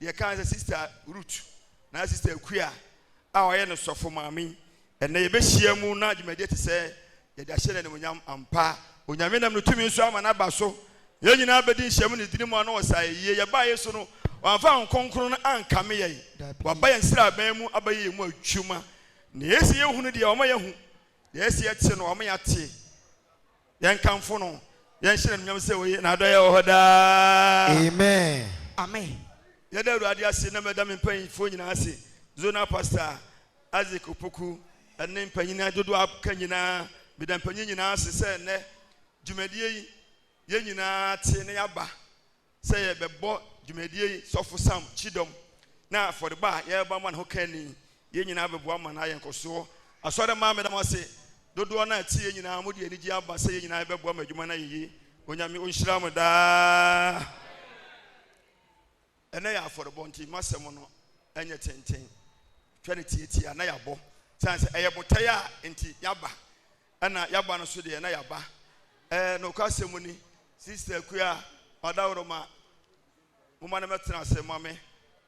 Deɛ ɛka ne sɛ Sista Ruth na Sista Akua a ɔyɛ no sɔfo maame yi, ɛnnɛ yɛbɛhyia mu na dwumadie te sɛ yɛde ahyɛ no animuonyam ampa. Onyame nam ne tumi nso ama no aba so. Yɛn nyinaa bɛdi nhyiamu ne dini mu ano wɔ saa ayɛyie. Yɛbaa yei so no, wamfa Honhom Kronkron no ankame yɛn. Waba yɛn sraban mu abɛyɛ yɛn mu adwuma. Nea ɛsɛ yɛhunu deɛ, wama yɛahu. Deɛ ɛsɛ yɛte no, wama yɛate. Yɛnkamfo no, yɛnhyɛ no anuonyam sɛ oye, n'adɔeɛ wɔ hɔ daa. Amen. Amen. Yɛda Awurade ase na meda me mpanyimfoɔ nyinaa ase, Zonal Pastor Isaac Opoku ne mpanyin dodoɔ a aka nyinaa. Meda mpanyin nyinaa ase sɛ nnɛ dwumadie yi yɛn nyinaa te na yɛaba sɛ yɛbɛbɔ dwumadie yi Sɔfo Sam kyidɔm na afɔrebɔ a yɛrebɔ ama no ho ka ni. Yɛn nyinaa bɛboa ma no ayɛ nkɔsoɔ. Asɔre mmaa meda mo ase dodoɔ no a ɛteɛ nyinaa mode anigye aba sɛ yɛn nyinaa yɛbɛboa ma adwuma no ayɛ yie. Onyame ɔnhyira mo daa. Ɛnɛ yɛ afɔrebɔ nti m'asɛm no ɛnyɛ tenten. Twa no tiatia na yɛabɔ. Sane sɛ ɛyɛ botaeɛ a nti yɛaba. Ɛna yaba no so deɛ na yaba. Ɛɛ nokwa sɛm ni sister akua ɔdawroma moma no mɛtena ase ma me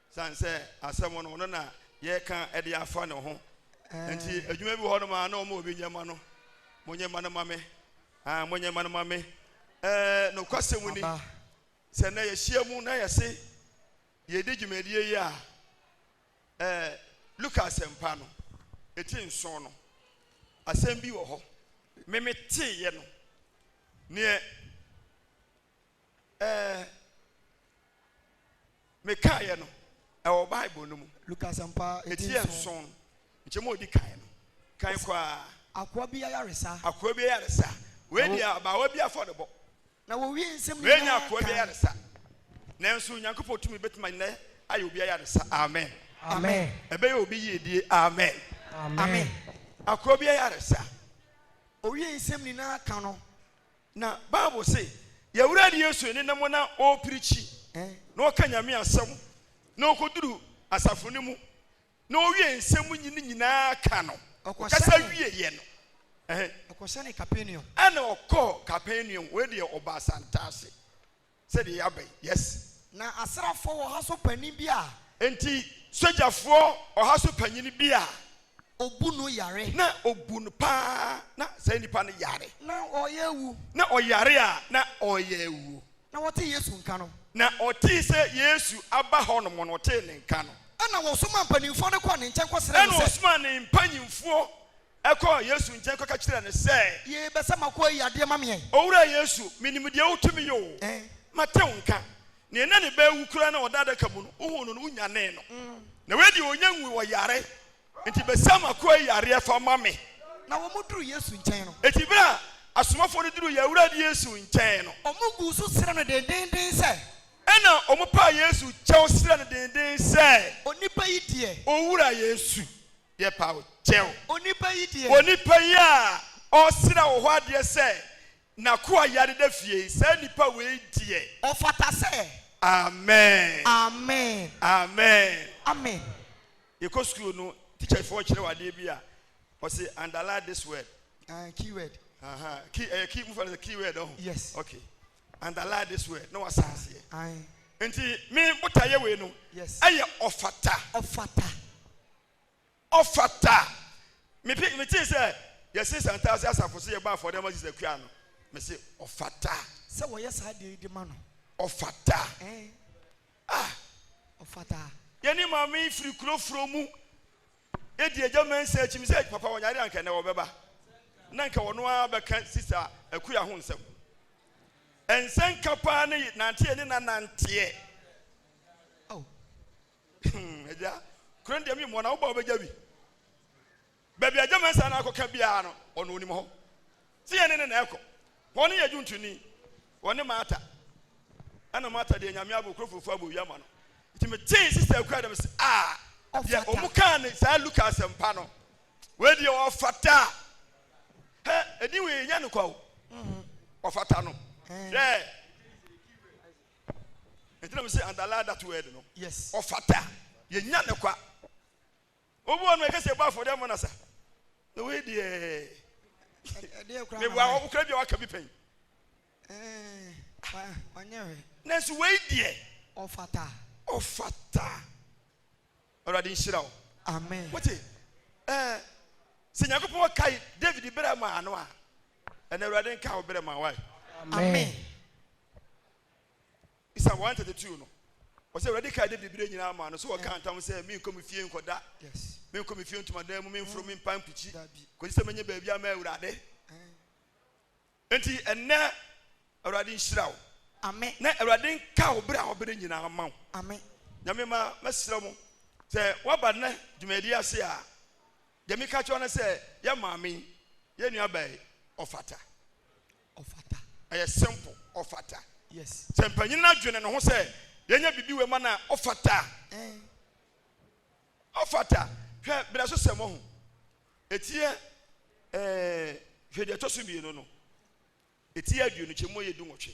sane sɛ asɛm no ɔno na yɛka ɛde afa ne ho nti adwuma bi hɔ no ma na ɔma obi nyɛ ma no mo nyɛ ma no ma me ah mo nyɛ ma no ma me ɛɛ nokwa sɛm ni sɛ na yɛhyia mu na yɛse yɛdi dwumadie yi a Ɛɛ, Luka Asɛmpa no, eti nson no, asɛm bi wɔ hɔ, me meteeɛ no, neɛ, ɛɛ, mekaaeɛ no, ɛwɔ Bible no mu. Luka Asɛmpa, eti nson no, nkyɛmu a ɔdi kan no, kan koraa. Akoa bi ayaresa. Akoa bi ayaresa. Wei deɛ, abaawa bi afɔrebɔ. Na wɔwie nsɛm nyinaa kan. Mɛnya akoa bi ayaresa. Nanso Onyankopɔn tumi bɛtumi nnɛ ayɛ obi ayaresa. Amen. Amen. Ɛbɛyɛ obi yiedie. Amen. Amen. Akoa bi ayaresa. Owie nsɛm nyinaa ka no. Na Bible se, Yɛ'Awurade Yesu nenam na ɔɔpirikyi, na ɔka Nyame asɛm, na ɔkɔduru asafo no mu, na ɔwiee nsɛm no nyinaa ka no, ɔkasa wieeɛ no, ɛnna ɔkɔɔ Kapernaum, wei deɛ ɔbaa Santaase, sɛdeɛ yɛaba yi, yes. Na asraafoɔ ɔha so panin bi a. Enti sogyafoɔ ɔha so panin bi a. Ɔbu no yare. Na ɔbu no paa, na saa nipa no yare. Na ɔreyɛ awu. Na ɔyare a na ɔreyɛ awu. Na wɔtee Yesu nka no. Na ɔtee sɛ Yesu aba hɔnom no, ɔtee ne nka no. Ɛnna wɔsomaa mpanimfoɔ no kɔɔ ne nkyɛn kɔsrɛɛ no sɛ. Ɛnna ɔsomaa ne mpanimfoɔ kɔɔ Yesu nkyɛn kɔka kyerɛɛ no sɛ. Yei, bɛ sɛ m'akoa yi yɛ adeɛ ma me ɛ? Owura Yesu, menim deɛ wotumi yɛ oo. Mate wo nka. Neɛ na ne ba awu koraa na ɔda adaka mu no, wohuu no no, wonyanee no. Na wei deɛ, ɔnnya nwuu, ɔyare. Enti bisa m'akoa yi yareɛ fa ma me. Na wɔduruu Yesu nkyɛn no. Enti berɛ a asomafoɔ no duruu yɛn Awurade Yesu nkyɛn no. Wɔguu so srɛɛ no dendeenden sɛ. Ɛnna wɔpaa Yesu kyɛw srɛɛ no dendeenden sɛ. Onipa yi deɛ. Owura Yesu, yɛpa wo kyɛw. Onipa yi deɛ. Onipa yi a ɔresrɛ wo hɔ adeɛ sɛ n'akoa yare da fie yi, saa nipa wei deɛ. Ɔfata sɛ. Amen. Amen. Amen. Amen. Yɛkɔ sukuu no, teacher foɔ kyerɛw adeɛ bi a, ɔse underline this word. Uh, key word. Aha, uh-huh. key, ɛyɛ eh, key, mo fa no sɛ key word ɔho. Oh. Yes. Okay. Underline this word, na wasa aseɛ. Aye. Nti, me bota yɛ wei no. Yes. Ɛyɛ ɔfata. Ɔfata. Ɔfata. Me pe, me te sɛ, yɛse santase asafo se yɛbɔ afɔre ama Jesus kua no. Me se, ɔfata. Sɛ wɔyɛ saa deɛ yi de ma no. Ɔfata. Eh. Ah! Ɔfata. Yɛn ne Maame yi firi kuro forɔ mu di Agya Mensah akyi. Me sɛ papa wɔnyare a anka ɛnnɛ wɔbɛba na anka ɔno ara bɛka Sista Akuya ho nsɛm. Nsɛnka paa ne nante yɛne no ananteɛ. Oh! Agya, kuro no deɛ me mmɔ na wobaa wobɛgya bi. Baabi a Gyamɛnsa no akɔka biara no, ɔno onim hɔ. Sɛ yɛne no na ɛkɔ, hɔ no yɛ dwontoni, ɔne Martha. Ɛna Martha deɛ Nyame abɔ kuro fufuo abɔ owia ma no. Nti metee Sister Akua dɛ mese ah, deɛ ɔmo kaa ne saa Luka asɛmpa no, wei deɛ ɔfata. Hɛ, ɛdin wei ɛnya no kwa o, ɔfata no, hwɛ. Nti na mese underline that word no, ɔfata, yɛnya no kwa. Obi wɔ hɔ nom a yɛka sɛ yɛbɔ afɔdeɛ mmɔ no asa na wei deɛ meboa hɔ wokura bi a waka bi pɛn nanso wei deɛ ɔfata ɔfata awurade nhyira wo amen wote ɛɛ sɛ nyankopɔn ɔkae david berɛ maa no a ɛna awurade nka wo berɛ ma wae amen bisa wɔn tete tuo no wɔsɛ awurade kaa dawid bere nyinaa maa no so wɔkaa ntam sɛ menkɔ me fie nkɔda menkɔ me fie ntomadan mu memforo me mpa mpikyi kɔsi sɛ mɛnyɛ baabi ama awurade enti ɛnɛ awurade nhyira wo amen na awurade nka wo bere a wɔbere nyinaa ma wo amen nyame ma mɛsrɛ mo sɛ woaba nnɛ dwumadi ase a deɛ meka kyerɛ no sɛ yɛ maame yɛ nuabae ɔfata Ɔfata. Ɛyɛ simple, ɔfata. Yes. Sɛ mpanyin no adwene ne ho sɛ yɛnyɛ biribi wɔ ma no a, ɔfata. Ɛn. Ɔfata. Hwɛ bere so sɛm ɔho. Etia ɛɛ hwɛ deɛ ɛtɔ so mmienu no. Etia aduonu kyɛ mu yɛ du nwɔtwe.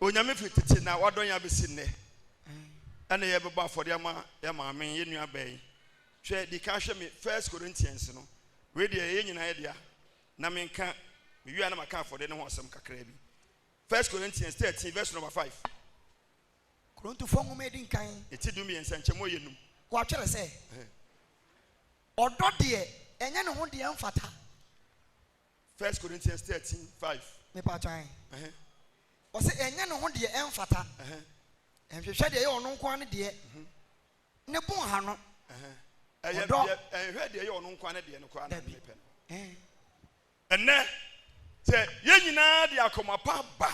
Onyame firi tete na wadɔ yɛn abɛsi nnɛ. Ɛna yɛbɛbɔ afɔdeɛ ama yɛn maame, yɛn nua bɛn. Hwɛ, di kan hwɛ me First Corinthians no. Wei deɛ ɛyɛ nyinaa yɛ dea. Na menka, mewie a na maka afɔdeɛ no ho asɛm kakra bi. First Corinthians 13 verse number 5. Korintofoɔ nwoma edi nkan. Eti du mmiɛnsa nkyɛn mu ɔyɛ num. Wɔatwerɛ sɛ, Ɔdɔ deɛ ɛnyɛ ne ho deɛ mfata. First Corinthians thirteen five. Me pa atwa ɛn. Ɛhɛn. Ɔsɛ ɛnyɛ ne ho deɛ ɛnfata. Ɛhɛn. Ɛnhwehwɛ deɛ ɛyɛ ɔno nko ara ne deɛ. Mhm. Ne bo nha no. Ɛhɛn. Ɛyɛ Ɔdɔ. deɛ ɛnhwɛ deɛ ɛyɛ ɔno nko ara ne deɛ no koraa na Dabi. ne pɛ no. Ɛn. Ɛnnɛ, sɛ yɛn nyinaa de akoma pa ba.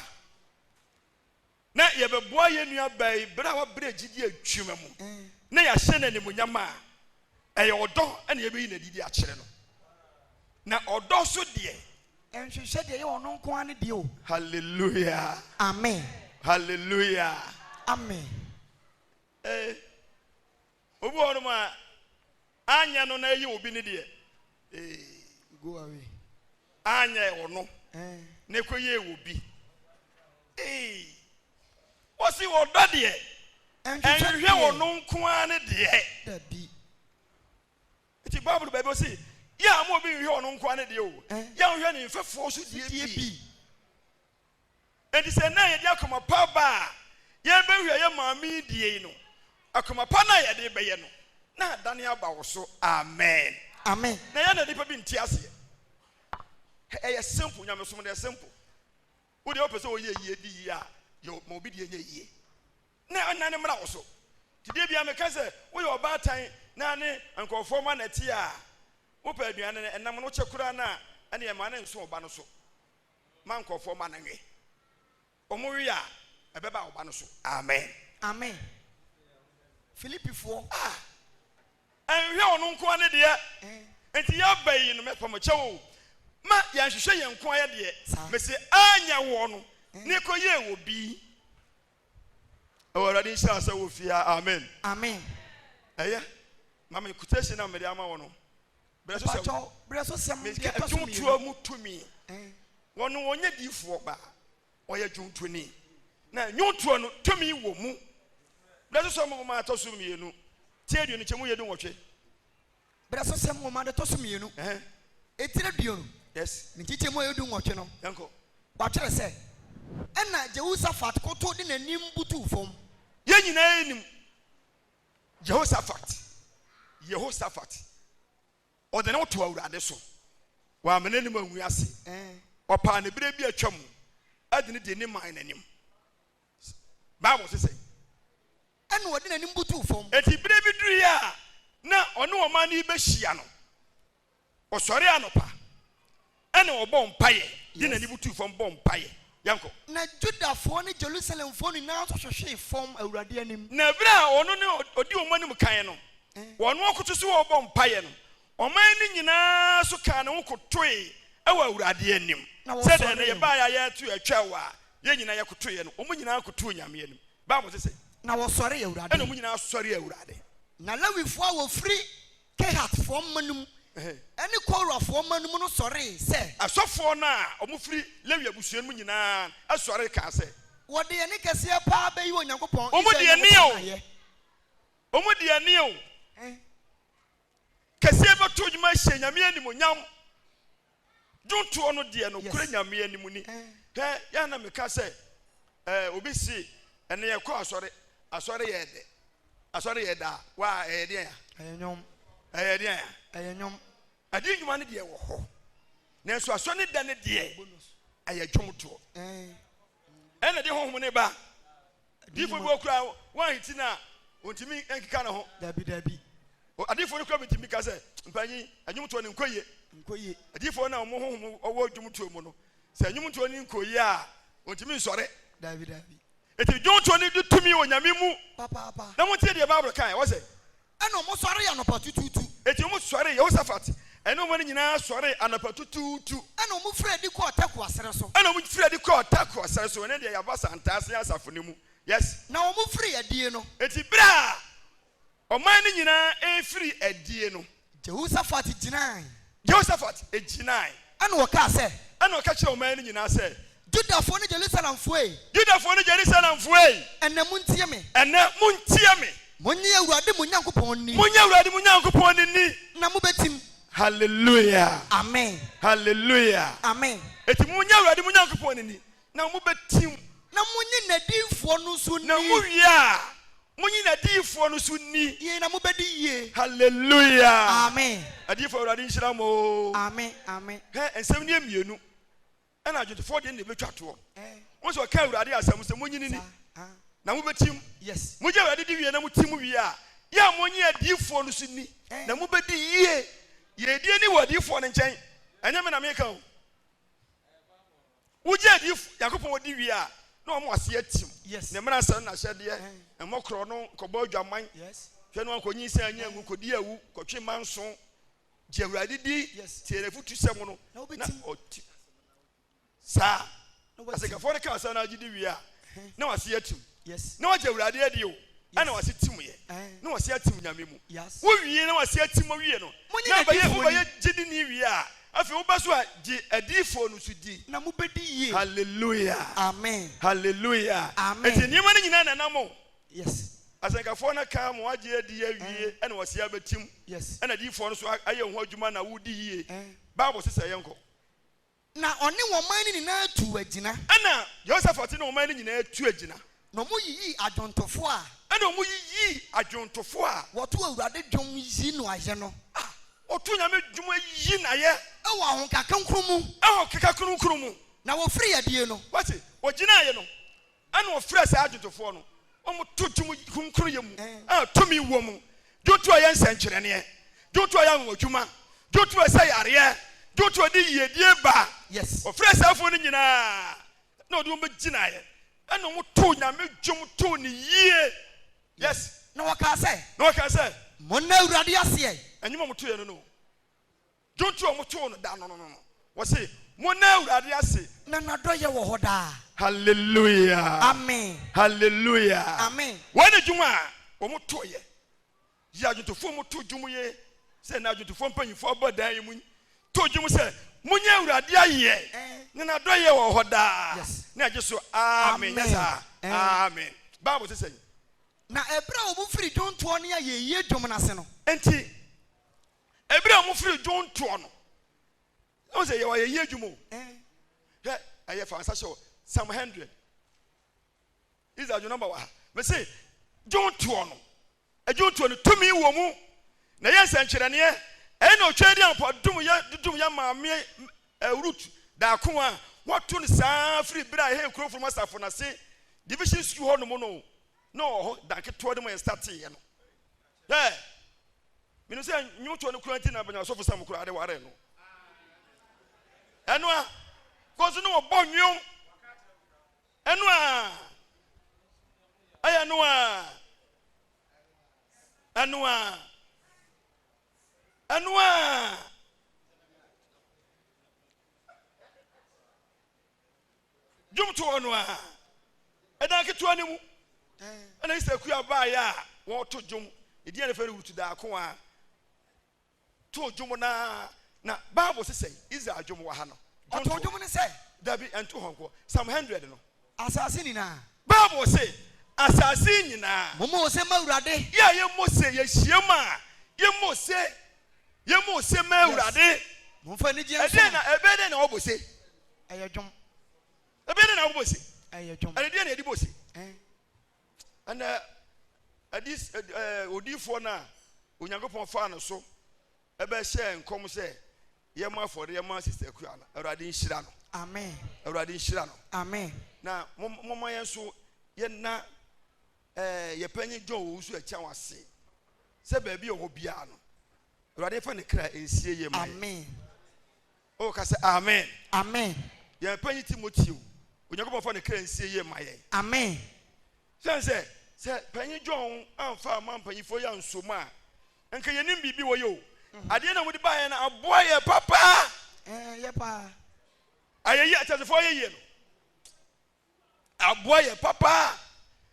na yɛbɛboa yɛn nuabaa yi bere a wabrɛ gyidi adwuma mu na yɛahyɛ no animuonyam a, ɛyɛ ɔdɔ na yɛbɛyi no adi de akyerɛ no. Na ɔdɔ nso deɛ. Ɛnhwehwɛ deɛ ɛyɛ ɔno nko ara ne deɛ o. Hallelujah. Amen. Hallelujah. Amen. Eh, Obi wɔ hɔnom a, anyɛ no na ɛyɛ obi ne deɛ. Ee, go away. Anyɛ ɔno na ɛkɔyɛɛ obi. Ee, wɔsi ɔdɔ deɛ, ɛnhwehwɛ ɔno nko ara ne deɛ. Dabi. Nti Bible baabi ɔsi, yɛ a mo obi nhwehwɛ ɔno nko ara ne deɛ o, yɛnhwɛ ne mfɛfoɔ nso deɛ bi. Enti sɛ nnɛ yɛde akoma pa ba a yɛrebɛhwɛ yɛn maame yi deɛ yi no, akoma pa no a yɛde rebɛyɛ no, na adane aba wo so. Amen. Amen. Na ɛyɛ a na nnipa bi nte aseɛ. Ɛyɛ simple, nyamesom no, ɛyɛ simple. Wo deɛ wopɛ sɛ woyɛ yie, di yie a, yɛ ma obi deɛ nyɛ yie. Na ɛnna ne mmra wo so. Nti deɛ bia meka sɛ woyɛ ɔbaatan na ne nkurɔfoɔ ma na ɛte a, wopɛ aduane no, ɛnam no kyɛ koraa no a, ɛnna ɛma no nso wo ba no so. ma nkurɔfoɔ mma no nwe. Wɔwe a, ɛbɛba wo ba no so. Amen. Amen. Filipifoɔ. A. Ɛnhwɛ ɔno nko ara ne deɛ. Enti yɛaba yi no, mɛpa mo kyɛw o, ma yɛnhwehwɛ yɛn nko ara yɛ deɛ. Mese, Anyɛ woɔ no, na ɛkɔyɛɛ wɔ bi. Ɛwɔ awurade nhyira sɛ wɔ fie ha amen. Amen. Ɛyɛ ma me quotation na mede ama wɔ no. Brɛ so sɛm. Brɛ so sɛm. Mede adwomtoɔ mu tumi. Wɔn wɔnyɛ diifoɔ ba. Ɔyɛ dwomtoni. Na nnwomtoɔ no tumi wɔ mu. Brɛ so sɛm boma ɛtɔ so mmienu. Tie aduonu kyɛ mu yɛ du nwɔtwe. Bere so sɛm nwoma no tɔ so mmienu, etire aduonu ne nkyekyɛmu a ɛyɛ du nwɔtwe no, wɔatwerɛ sɛ, Ɛnna Jehosafat kotow de n'anim butuw fam. Yɛn nyinaa nim Jehosafat. Jehosafat, ɔde ne ho too Awurade so. Wamma n'anim angu ase. Ɔpaa ne bere bi a atwam de no dii ne man no anim. Bible se sɛn? Ɛnna ɔde n'anim butuu fam. Enti bere bi duruiɛ a na ɔne ɔman no rebɛhyia no, ɔsɔree anɔpa, ɛnna ɔbɔɔ mpaeɛ, de n'ani butuu fam bɔɔ mpaeɛ. Yɛnkɔ. Na Judafoɔ ne Jerusalemfoɔ nyinaa nso hwehwee fam Awurade anim. Na berɛ a ɔno ne ɔdi wɔn anim kan no, wɔn akoto so a ɔrebɔ mpaeɛ no, Ɔman no nyinaa nso kaa ne ho kotoe wɔ Awurade anim, sɛdeɛ na yɛbaeɛ a yɛreto yɛn atwɛw a yɛn nyinaa yɛkotoeɛ no, wɔn nyinaa kotoo Nyame anim. Bible se sɛ. Na wɔsɔree Awurade. Ɛnna wɔn nyinaa sɔree Awurade. Na Lewifoɔ a wɔfiri Kehatfoɔ mma no mu ne Korafoɔ mma no mu no sɔree sɛ. Asɔfoɔ no a wɔfiri Lewi abusua no mu nyinaa sɔree kaa sɛ. Wɔde yɛn nne kɛseɛ pa ara bɛyi Onyankopɔn, Israel Nyankopɔn ayɛ. Wɔn deɛ nie o! kɛseɛ bɛto dwom ahyɛ Nyame animonyam. Dwontoɔ no deɛ nokorɛ Nyame anim ni. Hɛ, yɛ na meka sɛ, eh, obi se, ɛnɛ yɛkɔ asɔre, asɔre yɛ dɛ, asɔre yɛ daa, waa, ɛyɛ deɛn a? Ɛyɛ nwom. Ɛyɛ deɛn a? Ɛyɛ nwom. Adi nnwuma no deɛ wɔ hɔ, nanso asɔre ne da no deɛ ɛyɛ dwomtoɔ. Ɛna de honhom no ba. Adiyifo bi wɔ hɔ koraa a, wɔanhinti no a, ontumi nkeka ne ho. Dabi, dabi. O, adiyifo no koraa bi tumi ka sɛ, Mpanyin, nnwomtoɔ no nkɔ yie. Nkɔ yie. Adiyifo no a wɔn honhom wɔ dwomtoɔ mu no, sɛ nnwomtoɔ no nkɔ yie a, wɔntumi nsɔre. Dabi, dabi. Enti dwomtoɔ no di tumi wɔ Nyame mu. Papaapa. Na montie deɛ Bible kae, wɔse, Ɛnna wɔsɔree anɔpatutuutu. Enti wɔsɔree, Yehosafat ne wɔn nyinaa sɔree anɔpatutuutu. Ɛnna wɔfirii adi kɔɔ Tekoa serɛ so. Ɛnna wɔfirii adi kɔɔ Tekoa serɛ so. Ɛnneɛ deɛ yɛaba asantaase asafo no mu. Yes. Na wɔfirii adie no. Enti berɛ a ɔman no nyinaa refiri adie no. Yehosafat gyinaae. Yehoshafat gyinae. Ɛnna ɔkaa sɛ. Ɛnna ɔka kyerɛɛ ɔman no nyinaa sɛ. Yudafoɔ ne Jerusalemfoɔ ei. Yudafoɔ ne Jerusalemfoɔ ei. Ɛnnɛ montie me. Ɛnnɛ montie me. Monnye Awurade mo Nyankopɔn nni. Monnye Awurade mo Nyankopɔn no nni. Na mobɛtim. Hallelujah! Amen! Hallelujah! Amen! Enti monnye Awurade mo Nyankopɔn no nni. na mobɛtim. Na monye n'adiyifoɔ no nso nni. Na mowie a, monye n'adiyifoɔ no nso nni. Yei na mobɛdi yie. Hallelujah! Amen. Adiyifoɔ, Awurade nhyira mo oo. Amen, amen. Hɛ, nsɛm nie mmienu na adwontofoɔ deɛ no na ɛbɛtwa toɔ. Wohu sɛ ɔka Awurade asɛm sɛ, Monye no nni, na mobɛtim. Yes. Mogye Awurade di wie na motim wie a, yɛ a monye adiyifoɔ no nso nni, na mobɛdi yie. Yɛdie ni wɔ adiyifoɔ no nkyɛn, ɛnyɛ me na meka o. Wogye adi f Nyankopɔn odi wie a, na wɔn ase atim. Yes. Ne mmara nsɛm ne n'ahyɛdeɛ, Ɛn. mmɔ korɔ no, nkɔbɔ adwaman, Yes. hwɛ na wɔnkɔnyinsɛn anyɛ anwu, kɔdi awu, kɔtwe mma nso, gye Awurade di, Yes. tie n'afotusɛm no, Na na wobɛtim. ɔti. Saa. Na wobɛtim. Asɛnkafoɔ no kaa saa na agye di wie a, na wase atim na wagye awurade adi o ɛna wase tim yɛ na wase atim nyame mu wowie na wase atim owie no na bɛyɛ wobɛyɛ gyidi ne wie a afei wobɛ so a gye adiifoɔ no so di na mobɛdi yie hallelujah amen hallelujah amen nti nneɛma no nyinaa nanam o yes asɛnkafoɔ no ka ma wagye adi awie eh. ɛna wɔse abɛtim ɛna diifoɔ no so ayɛ ho adwuma na wodi yie eh. bible sesɛ yɛnkɔ Na ɔne wɔn man no nyinaa tuu agyina. Ɛnna Yehosafat ne wɔn man no nyinaa tuu agyina. Na wɔyiyii adwontofoɔ a. Ɛnna wɔyiyii adwontofoɔ a. Wɔto Awurade dwom yi no ayɛ no. A wɔto Onyame dwom yi no ayɛ. Wɔ ahokakronkron mu. Ahokakronkron mu. Na wɔfirii adie no. Wate, wɔgyinaaeɛ no, Ɛna ɔfrɛɛ saa adwodwofoɔ no, wɔto dwom kronkronyɛ mu a tumi wɔ mu, dwom to a ɛyɛ nsɛnkyerɛnneɛ, dwom to a ɛyɛ anwanwadwuma, dwom to a ɛsa yareɛ, dwom to a ɛde yiedie ba. Ɔfrɛɛ saa afoɔ no nyina ara na ɔde wɔn bɛgyinaeɛ, ɛna wɔtoo Nyame dwom too no yie. Yes. Na wɔkaa sɛ. Na wɔkaa sɛ. Monna Awurade ase ɛ. Nnwom a wɔtoeɛ no ne o. Dwom ti a wɔtoo no da no no no, wɔse, Monna Awurade ase. Na n'adɔeɛ wɔ hɔ daa. Hallelujah! Amen! Hallelujah! Amen! Wei ne dwom a wɔtoeɛ. Yi adwontofoɔ mu to dwom yi sɛ na adwontofoɔ mpanyimfoɔ abɔ dan yi mu to dwom sɛ, Monyɛ Awurade ayɛ, na n'adɔeɛ wɔ hɔ daa. Ne a gye so, Amen! Nyɛ saa, Amen! Bible se sɛn? Na ɛberɛ a wɔfiri dwontoɔ ne ayɛyie dwom no ase no. Enti. Ebere a ɔmo firi dwon toɔ no. Ɔmo sɛ yɛwɔ yɛyɛ adwuma o. Hwɛ ɛyɛ fa nsa hyɛ o. Psalm hundred. Is adwuma nɔmba wɔ ha. Mɛ se dwon toɔ no. Adwon toɔ no tumi wɔ mu. Na ɛyɛ nsɛnkyerɛnneɛ. Ɛyɛ na ɔtwa adi ampa dum yɛ dudum yɛ maame eh, root daako a wɔto no saa firi bere a ɛhɛ nkurɔfoɔ nom asafo no ase division school hɔ nom no na ɔwɔ hɔ danketewa no mu ɛnsa teeɛ no. Hwɛ, menim sɛ nnwontoɔ no kura nti na bɛnya sɔfo sam koraa de ware no. Ɛno a, kɔsi no wɔbɔ nnwom. Ɛno a, ɛyɛ no a, ɛno a, ɛno a. Dwomtoɔ hɔ no ara, ɛdan ketewa no mu, ɛna Easter kua baeɛ a wɔreto dwom. Edin a yɛfrɛ no Ruth Daakoa too dwom no ara na Bible se sɛn? Israel dwom wɔ ha no. Ɔtoo dwom no sɛ. Dabi, ɛnto hɔ nko. Psalm 100 no. Asase nyinaa. Bible se, Asase nyinaa. Mommɔ ose mma Awurade. Yɛ a yɛmmɔ ose, yɛhyiam a yɛmmɔ ose, yɛmmɔ ose mma Awurade. Momfa anigyeɛ nsom no. Ɛdeɛn na, ɛbɛyɛ dɛn na wɔabɔ ose? Ɛyɛ dwom. Ɛdeɛ ne na wobɔ ose? Ɛyɛ dwom. Ɛne deɛ na yɛde bɔ ose? Ɛn. Ɛnɛ adis ɛɛ odiifoɔ no a Onyankopɔn faa no so ɛbɛhyɛɛ nkɔm sɛ yɛmmɔ afɔre yɛma Sister Akua no, Awurade nhyira no. Amen. Awurade nhyira no. Amen. Na momma yɛn nso yɛnna ɛɛ yɛpanyin John Owusu Akyɛn ase sɛ baabi a ɔwɔ biara no, Awurade fa ne kra nsie yɛ ma yɛn. Amen. Oh ka sɛ amen. Amen. Yɛn panyin Timothy o, Onyankopɔn fa ne kra nsie yie ma yɛn. Amen. Sɛn sɛ, sɛ panyin John anfa amma mpanyinfoɔ yi anso mu a, nka yɛnim biribi wɔ yɛ o. Mhm. Adeɛ na wɔde baeɛ no aboa yɛ papa. Ɛɛ, yɛ paa. Ayɛyie, ateasefoɔ ayɛyie no. aboa yɛ papa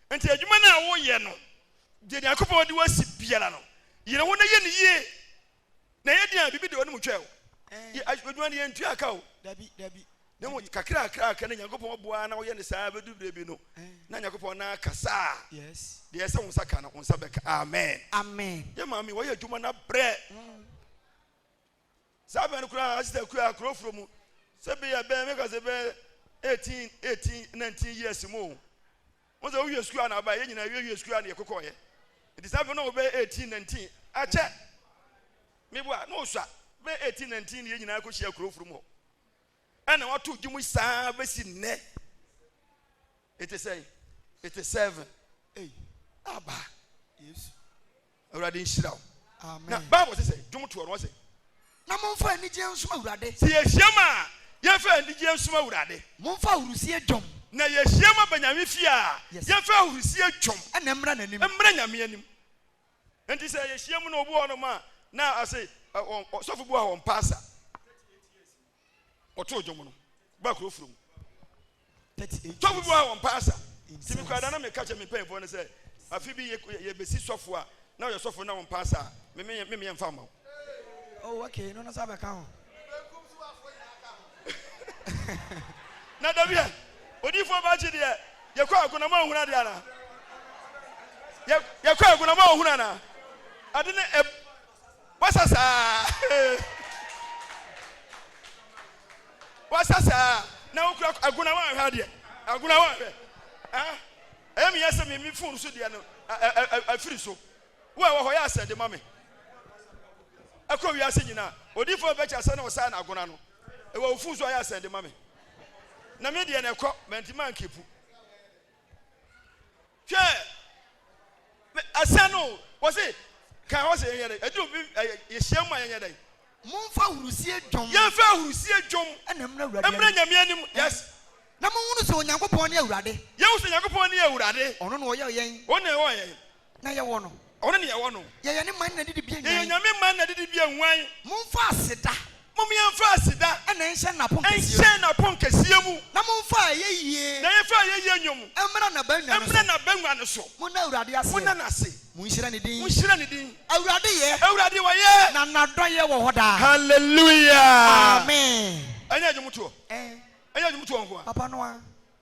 a, nti adwuma no a woyɛ no, deɛ Nyankopɔn de wo asi biara no, yere ho na yɛ no yie. Na ɛyɛ den a, biribi de w'anim twɛ o, eh. adwuma no yɛntua aka o, dabi, dabi. Na mmom kakrakrakra na Nyankopɔn boa na woyɛ no saa bɛduru berɛ bi no, eh. na Nyankopɔn na akasa a, yes. deɛ ɛsɛ wo nsa ka no, wo nsa bɛka. Amen. Amen. Yɛ maame, wɔyɛ adwuma no abrɛ. Mm. Saa bere no koraa Asita kuraa akurow foro mu sɛ bere a ɛbɛyɛ mɛka sɛ bɛyɛ 18, 18, 19 years mu o. Wɔn sɛ wowie sukuu a na aba, yɛn nyinaa yɛwie sukuu a na yɛkokɔɔyɛ. Nti saa bere no na wɔbɛyɛ 18, 19. Akyɛ! Meboa, na ɔsua. Bɛyɛ 18, 19 yɛn nyinaa kɔhyia akurow foro mu hɔ. Ɛna wɔato gye mu saa bɛsi nnɛ. Ɛte sɛn? Ɛte seven. Ei, aba. Yesu. Awurade nhyira wo. Na Bible sɛ sɛ dwom toɔ no ɔsɛ. Na momfa anigyeɛ nsom Awurade. Sɛ yɛhyiam a yɛmfa anigyeɛ nsom Awurade. Momfa ahurisie dwom. Na yɛhyiam aba Nyame fie a yɛmfa ahurisie dwom. Ɛna mmra n'anim. Mmra Nyame anim. Nti sɛ yɛhyiam no obi wɔ hɔnom a na ɔse ɔsɔfo bi wɔ ha ɔmpɛ asa. wɔtoo dwom no baa kuro foro mu. Sɔfo bi wɔ ha wɔn mpae asa. Ti mi kura da na mi ka kyɛ mi mpanyinfoɔ no sɛ afi bi yɛ besi sɔfo a na ɔyɛ sɔfo na wɔn mpae asa mi mi mi yɛ nfa ma o. Oh okay, no no sa bɛ ka ho. Na dabi yɛ odiifoɔ baakye deɛ yɛ kɔ agona ma ohun adeɛ ana yɛ kɔ agona ma ohun ana ade ne ɛ. Wasa saa ee Wasa saa na wokura Agona woanhwɛ adeɛ Agona woanhwɛ ah Ɛyɛ me ya sɛ me me phone so deɛ no afiri so Wo a ɛwɔ hɔ yɛ asɛ de ma me Ɛkɔ wiase nyinaa Odiyifoɔ bɛbɛ kyɛ asɛ na ɔsaa na Agona no ɛwɔ wo phone so a yɛ asɛ de ma me Na me deɛ no ɛkɔ manti mankepu Hwɛ, me, ɛsɛ no. Wɔsi, kan hɔ sɛ yɛnyɛ dɛ. Ɛduru bi, ɛyɛ, yɛhyia mu a yɛnyɛ dɛ. Monfa ahurusie dwom. Yɛnfa ahurusie dwom. Ɛna mmra Awurade anim. Mmra Nyame anim, yes. Na monhunu sɛ Onyankopɔn ne Awurade. Yɛhu sɛ Nyankopɔn ne Awurade. Ɔno na ɔyɛɔ yɛn. Ɔno na ɔyɛɔ yɛn. Na yɛwɔ no. Ɔno na yɛwɔ no. Yɛyɛ ne man na didibea nyan. Yɛyɛ Nyame man na didibea nwan. Momfa aseda. Mom yɛmfa aseda. Na ɛnhyɛn n'apon kɛseɛ mu. Ɛnhyɛn n'apon kɛseɛ mu. Na momfa ayɛyie. Na yɛmfa ayɛyie nnwom. Mmra n'abangua no so. Mmra n'abangua no so. Monna Awurade ase. Monna no ase. Monhyira ne din. Monhyira ne din. Awurade yɛ. Awurade ɔyɛ. Na n'adɔeɛ wɔ hɔ daa. Hallelujah. Amen. Ɛnyɛ dwomtoɔ. Ɛn. Ɛnyɛ dwomtoɔ nkoa. Papa no ara.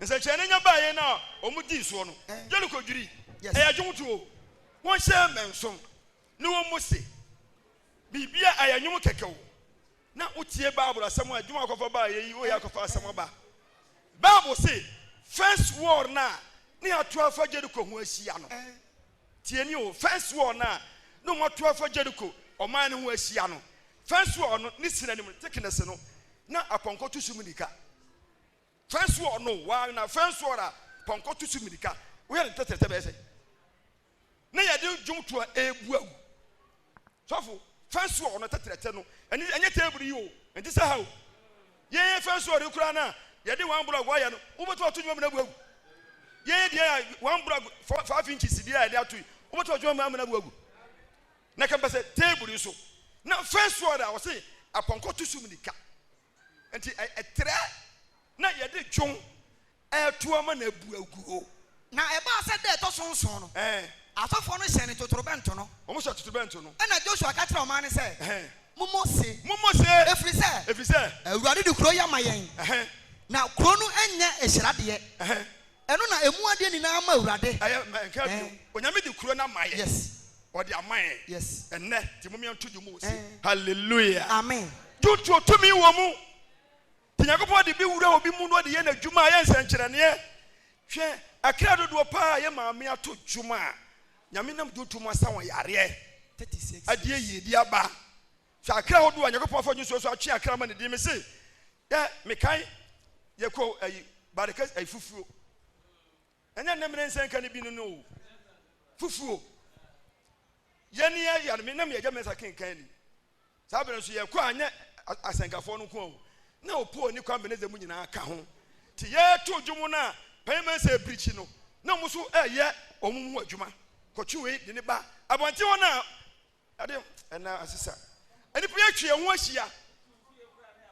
Nsɛnkyerɛnne nya baeɛ no a wɔn dii soɔ no, Yeriko dwirii. Ɛyɛ adwowotoɔ. Wɔn hyɛɛ mmɛnson ne wɔn mu se, Biribi a ɛyɛ nwom kɛkɛ o, na wo tie Bible asɛm a Juma akɔfa baeɛ yi o yɛ akɔfa asɛm aba. Bible se first war no a ne ato afa Jeriko ho ahyia no, tie nie o, first war no a ne wɔn ato afa Jeriko ɔman no ho ahyia no, first war no ne sinanim no, thickness no, na apɔnkɔ to so mmirika. Fɛn so ɔ no wa na fɛn so ɔra pɔnkɔ to so mirika wo yɛ ne tɛtɛrɛ sɛ bɛyɛ sɛ ne yɛ de dwom to a ebu awu sɔfo fɛn so ɔ no tɛtɛrɛ sɛ no ɛne ɛnyɛ table yi o ɛnti sɛ ha o yɛn fɛn so ɔre kura na yɛ de wɔn blog wɔyɛ no wo bɛtɔ ɔto dwom amena bu awu yɛn deɛ a wɔn blog five inches deɛ a yɛde ato yi wo bɛtɔ dwom amena bu awu na kɛmpɛ sɛ table yi so na fɛn so ɔra ɔse apɔnkɔ to so mirika Nti ɛtrɛ na yɛde dwom reto ama no abu agu o. Na ɛbaa sɛ da a ɛtɔ so nson no, asɔfoɔ no hyɛnee totorobɛnto no. Wɔhyɛɛ totorobɛnto no. Ɛnna Josua ka kyerɛɛ ɔman no sɛ, Mommɔ ose. Mommɔ ose. Ɛfiri sɛ. Ɛfiri sɛ. Awurade de kuro yi ama yɛn. Na kuro no nyɛ nhyira deɛ. Ɛno na ɛmu adeɛ nyinaa ma Awurade. Ɛyɛ mma ɛnka bio. Ɛɛ. Onyame de kuro no ama yɛn. Yes. Ɔde ama yɛn. Yes. Ɛnnɛ, nti momyɛ nto dwom wɔ se, Hallelujah. Amen. Dwontoɔ tumi wɔ mu. Nti Nyankopɔn de bi wura obi mu na ɔde yɛ N'adwuma a, ɛyɛ nsɛnkyerɛnneɛ. Hwɛ, akra dodoɔ pa ara a ɛyɛ Maame ato dwom a, Nyame nam dwonto mu asa wɔn yareɛ. 36 years. Adeɛ yie bi aba. Hwɛ akra ahodoɔ a Nyankopɔn afa nisuo so atwe akra ama ne din. Mese dɛ mekae yɛkɔɔ ayi Barikes ayi fufuo. Ɛnyɛ nnɛ mene nsɛ nka ne bi no no o. Fufuo. Yɛne yɛ yare me na me agya mɛnsa kenkan ni. Saa bere nso yɛkɔ a nyɛ asɛnkafoɔ no nko a o. Na opoo ne kwan benedze mu nyinaa ka ho. Nti yɛto dwom no a panyin mɛnsa ebirikyi no na ɔmo nso ɛɛyɛ ɔmo ho adwuma. Kɔtwe wei de ne ba abɔnten hɔ no a Ɛde ɛna asesa. Nnipa yɛtwe yɛn ho ahyia.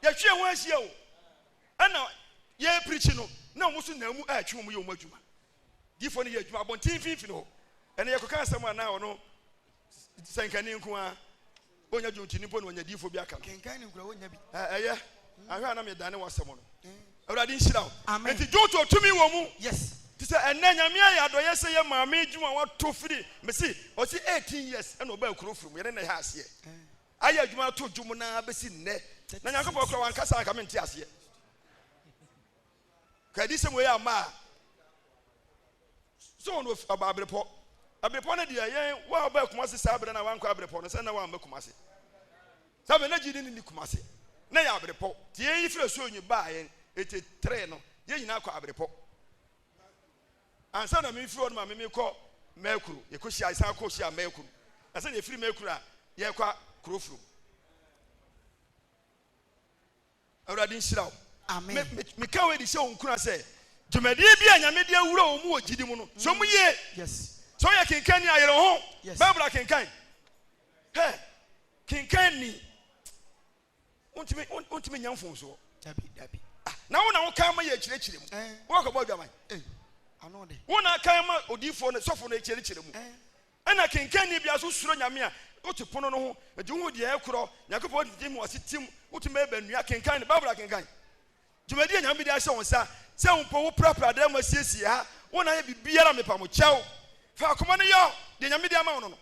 Yɛtwe yɛn ho ahyia o. Ɛna yɛpirikyi no na wɔn nso nam mu ɛretwe wɔn yɛ wɔn adwuma. Diifoɔ no yɛ adwuma abɔnten finfin hɔ. Ɛna yɛkɔka asɛm a na ɔno sɛnkani nko ara ɔnya dwomtini mpo na ɔnya diifoɔ bi aka no. Kenkan ne nkura ɔnya bi. Ɛyɛ ahwɛ a na medane wɔ asɛm no. Awurade nhyira wo. Amen. Enti Dwowto a tumi wɔ mu. Yes. Te sɛ ɛnnɛ Nyame ayɛ adɔyɛ sɛ yɛ Maame June a wato firi me se ɔse 18 years ɛna ɔbaa kuro firi mu yɛne no hɛ aseɛ ayɛ adwuma ato dwom no ara bɛsi nnɛ na Nyankopɔn kora wankasa anka mente aseɛ ka adisɛm wei ama a so wɔn ɔbaa abrepɔ abrepɔ no deɛ yɛn wa ɔbaa kumase saa berɛ na wankɔ abrepɔ no sɛ na wamma kumase Sɛ afei na gyidi no nni Kumase, na ɛyɛ aberepɔw. Nti yɛn yi firi asuo nyi baa yɛn eti tere no yɛn nyinaa kɔ aberepɔ. Ansa na me firi hɔ nom a me me kɔ Mɛɛkuro, yɛ kɔ hyia yɛ san kɔ hyia Mɛɛkuro. Na sɛ na yɛ firi Mɛɛkuro a yɛ kɔ Kurofurom. Awurade nhyira wo. Amen. Me, me, meka wei de hyɛ wɔn nkura sɛ, dwumadie bi a Nyame de awura wɔn mu wɔ gyidi mu no, sɔ mu yie. Yes. Sɛ woyɛ kenkanni a, yere wo ho. Yes. Bible akenkan. Hɛ, kenkan ni. Wontumi, wont- wontumi nya mfomsoɔ. Dabi, dabi. Ah, Na wo na wokan ma yɛkyerɛkyerɛ mu. Eh. Woakɔbɔ adwaman. Ei, ano de. Wo na akan ma odiyifoɔ no, sɔfo no kyerɛkyerɛ mu. Eh, Ɛna kenkanni biara nso suro Nyame a, wote pono no ho, enti wohu deɛ ɛkorɔ, Nyankopɔn de gyim w'asetem, wotumi bɛyɛ bɛnnua, kenkan no, Bible akenkan. Dwumadi a Nyame de ahyɛ wo nsa, sɛ wo mpo woprapra dan mu asiesie ha, wo na ayɛ biribiara a mepa mo kyɛw, fa akoma no yɔ deɛ Nyame de ama wo no no,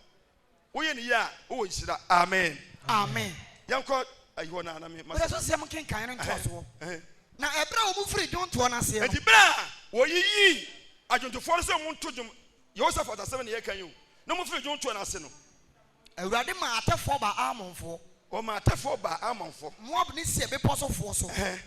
woyɛ no yie a wowɔ nhyira. Amen. Amen. Yɛnkɔ ayi hɔ na na me ma sɛ. Bere so sɛm nkenkan no ntoasoɔ. Na ɛberɛ a wɔn firii dwontoɔ no aseɛ no. Enti berɛ a wɔyiyii adwontofoɔ no sɛ wɔn nto dwom Yehosafat asɛm na yɛka yi o, na wɔfiri dwontoɔ no ase no. Awurade maa atɛfoɔ baa Ammonfoɔ. Wɔmaa atɛfoɔ baa Ammonfoɔ. Moab ne Seir bepɔ sofoɔ so. Ɛhɛn.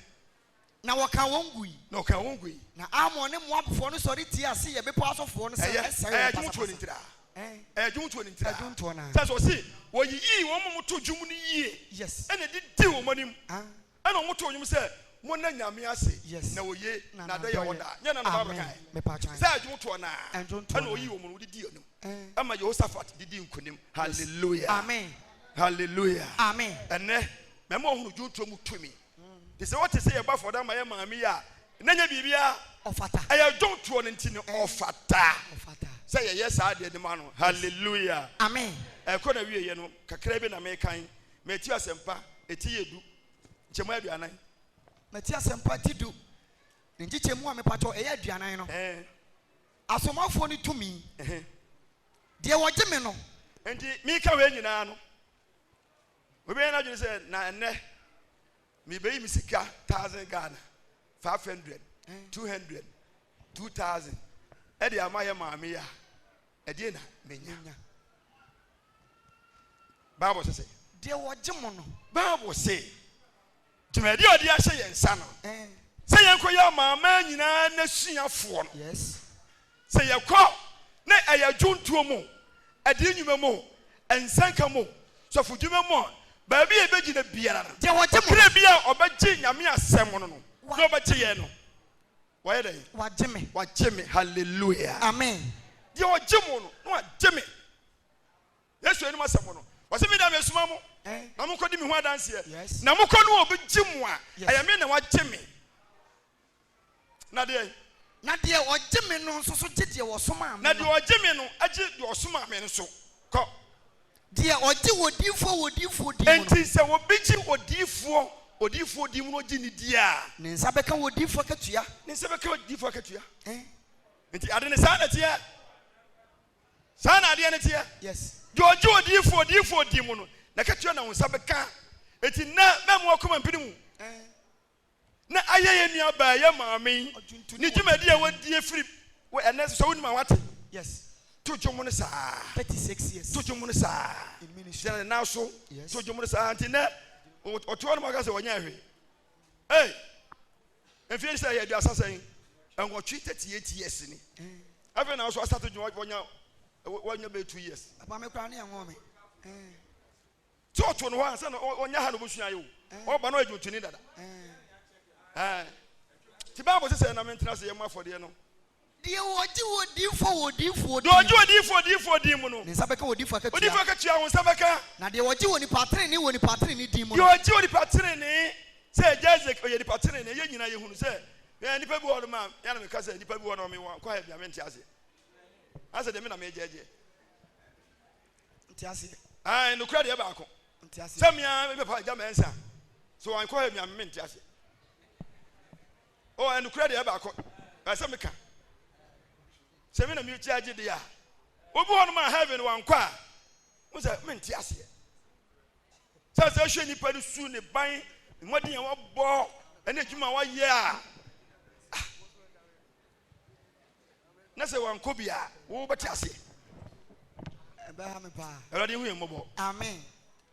Na wɔkaa wɔn gui. Na wɔkaa wɔn gui. Na Ammon ne Moabfoɔ no sɔre tiaa Seir bepɔ asofoɔ no sɛ, Ɛyɛ, Mɛsɛe wɔn ɛyɛ dwontoɔ no pasapasa. ntiraa. Ɛn. Ɛyɛ dwontoɔ no ntiraa. Dwontoɔ no ara. Kyerɛ sɛ, ɔse, wɔyiyii wɔn ma wɔtoo dwom no yie. Yes. Ɛna ɛdidii wɔn anim. An. Ɛna ɔmo too nwom sɛ, Monna Nyame ase, na oye, na adɔe yɛ hɔ daa. Nyɛ na na Bible kae sɛ ɛdwom toɔ no aa? Ɛna ɔyii wɔn no didii anim, ɛma Yehosafat didii nkonim. Hallelujah! Hallelujah! Ɛnnɛ, mɛma ɔhunu dwontoɔ mu tumi. Nti sɛ ɔte sɛ yɛbɔ afɔda ma yɛn maame yi a, na ɛnyɛ biribiara, ɛyɛ dwontoɔ no nti no, ɔfata sɛ yɛyɛ saa adeɛ no ma no. Hallelujah! Ɛkɔ na wieɛ no, kakra bi na mekan Mati asɛmpa eti yɛ du nkyɛmu aduanan. Mati asɛmpa ti du ne nkyekyɛmu a mepakyɛw ɛyɛ aduanan no. Ɛɛ. Asomafoɔ no tumi. Ɛhɛ. Deɛ wɔgye me no. Enti meka wei nyinaa no, obi bɛyɛ n'adwene sɛ na ɛnnɛ mebeyi me sika thousand Ghana, five hundred, two hundred, two thousand ɛde ama yɛ maame yi a Ɛdeɛ na menya. Bible sɛ sɛ. Deɛ wɔgye mo no. Bible se dwumadie a ɔde ahyɛ yɛn nsa no sɛ yɛnkɔ yɛ amanaman nyinaa n'asuafoɔ no. Yes. Sɛ yɛkɔ na ɛyɛ dwontoɔ mu, ɛdeɛ nnwuma mu, nsɛnka mu, sɔfodwuma mu, baabi a yɛbɛgyina biara no. Deɛ wɔgye mo. Kra bi a ɔbɛgye Nyame asɛm no no na ɔbɛgye yɛn no. Wayɛ dɛn? Wagye me. Wagye me. Hallelujah. Amen. Deɛ ɔgye mo no, na wagye me. Yesu anim asɛm no, ɔsɛ me da mesoma mo eh. na mo nkɔdi me ho adanseɛ. Yes. Na mo kɔ no obi gye mo a, ɛyɛ me na wagye me. Na deɛ. Na deɛ ɔgye me no nso so gye deɛ ɔsomaa me no. Na deɛ ɔgye me no agye deɛ ɔsomaa me nso. Kɔ. Deɛ ɔgye odiyifoɔ wɔ odiyifoɔ din mu no. Enti sɛ obi gye odiyifoɔ wɔ odiyifoɔ din mu na ɔgye no di a. Ne nsa bɛka wɔ odiyifoɔ akatua. Ne nsa bɛka wɔ odiyifoɔ akatua. Ɛn. Enti ade no saa na ɛteɛ. Saa na adeɛ no teɛ. Yes. Deɛ ɔgye odiyifoɔ wɔ odiyifoɔ din mu no, n'akatua na wo nsa bɛka. Enti nnɛ, mammu w'akoma mpene mu. Ɛn. na ayɛ yɛn nuabaa, yɛn maame, ne dwumadi a wɔadi afiri wɔ ɛnnɛ nso. Sɛ wonim a, woate? Yes. To dwom no saa. Thirty-six years. To dwom no saa. In ministry. Gyina ne nan so. Yes. To dwom no saa. Nti nɛ ɔte hɔ no ma ɔka sɛ ɔnyɛ ɛhwe. Hey, mfie sɛ yɛ aduasa sɛn? Ɛnwɔtwe thirty-eight years ni. Eh. Afei na ɔso asate dwom wɔnya wɔnya bɛ two years. Papa me kura ne ɛnwɔ me. Eh. Ti ɔto no hɔ ansa na ɔnya ha na ɔbɛsua ayɛ o. Ɔba no ɔyɛ dwontoni dada. Ti Bible sɛ sɛ na mentena ase yɛ mo afɔdeɛ no. Deɛ ɔgye odiyifoɔ wɔ odiyifoɔ din mu. Deɛ ɔgye odiyifoɔ odiyifoɔ din mu no. Ne nsa bɛka odiyifoɔ akatua. Odiyifoɔ akatua wo nsa bɛka. Na deɛ ɔgye onipa tenenee wɔ onipa tenenee din mu no. Deɛ ɔgye onipa tenenee sɛ agya Isaac ɔyɛ nipa tenenee yɛn nyinaa yɛhunu sɛ yɛn nipa bi wɔ hɔ nom a yɛn na meka sɛ nipa bi wɔ hɔ nom a mewɔ nkɔ ha bi a mente aseɛ. Asɛ deɛ me na megye agyeɛ. ntease. Ae, nokorɛ deɛ baako. Ntease. Sɛ mea me papa agya mɛnsa, sɛ wɔn kɔ hɛ mea me ntease. Oh, nokorɛ deɛ baako. Ɛsɛ meka. Sɛ me na me kyi agye deɛ a, obi hɔ nom a heaven wɔn kɔ a, mo sɛ me nteaseɛ. Sɛ sɛ hwɛ nipa ne su ne ban, mmɔden a wɔbɔ, ɛne adwuma wɔyɛ a, Na sɛ wankɔ bi a, wo bɛte aseɛ. Ɛbɛha me paa. Awurade hu yɛn mmɔbɔ. Amen.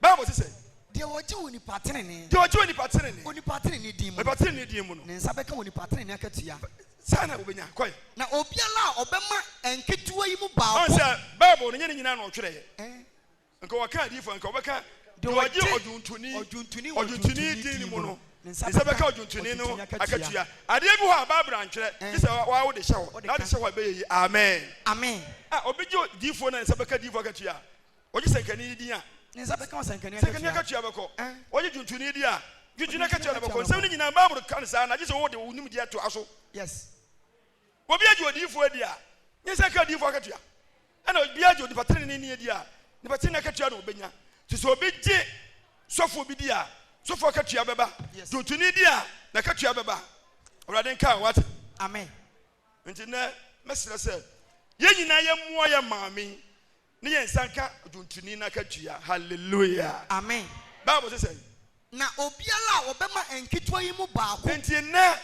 Bible se sɛ. Deɛ ɔgye onipa tenenee. Deɛ ɔgye onipa tenenee. Onipa tenenee din mu. Onipa tenenee din mu no. Ne nsa bɛka onipa tenenee akatua. Saa na wobɛnya. Kɔe. Na obiara a ɔbɛma nketewa yi mu baako. Ɔn sɛ Bible no nyɛ ne nyinaa na ɔtwerɛeɛ. Nka wɔka adiyifo a, nka wɔbɛka Deɛ ɔgye ɔdwontoni ɔdwontoni wɔ ɔdwontoni din no mu no, ne nsa bɛka ɔdwontoni no akatua. Adeɛ bi hɔ a Bible antwerɛ, gye sɛ wo ara wode hyɛ hɔ, na wode hyɛ hɔ a, ɛbɛyɛ yie. Amen. Amen. A Obi gye odiyifoɔ na ne nsa bɛka diyifo akatua a, ɔgye sɛnkani no din a, Ne nsa bɛka ɔsɛnkani sɛnkani akatua. akatua bɛkɔ. Ɛn. Ɔgye dwontoni din a, dwontoni akatua no bɛkɔ. Nsɛm no nyinaa, Bible ka no saa, na gye sɛ wode wo nimdeɛ toa so. Yes. Obi agye odiyifoɔ adi a, nyansa ka odiyifoɔ akatua, ɛna obiara gye onipa teneneeni adi a, nipa tenenee akatua na ɔbɛnya. Nti sɛ obi gye sɔfoɔ bi di a, sɔfoɔ akatua bɛba, gye otuni di a, n'akatua bɛba. Awurade nka wo, wate? Amen. Nti nnɛ, mɛsrɛ sɛ yɛn nyinaa yɛmmoa yɛn maame yi Ne yɛn nsa nka odwontoni no akatua. Hallelujah! Amen! Bible se sɛn? Na obiara a ɔbɛma nketewa yi mu baako. Enti nnɛ,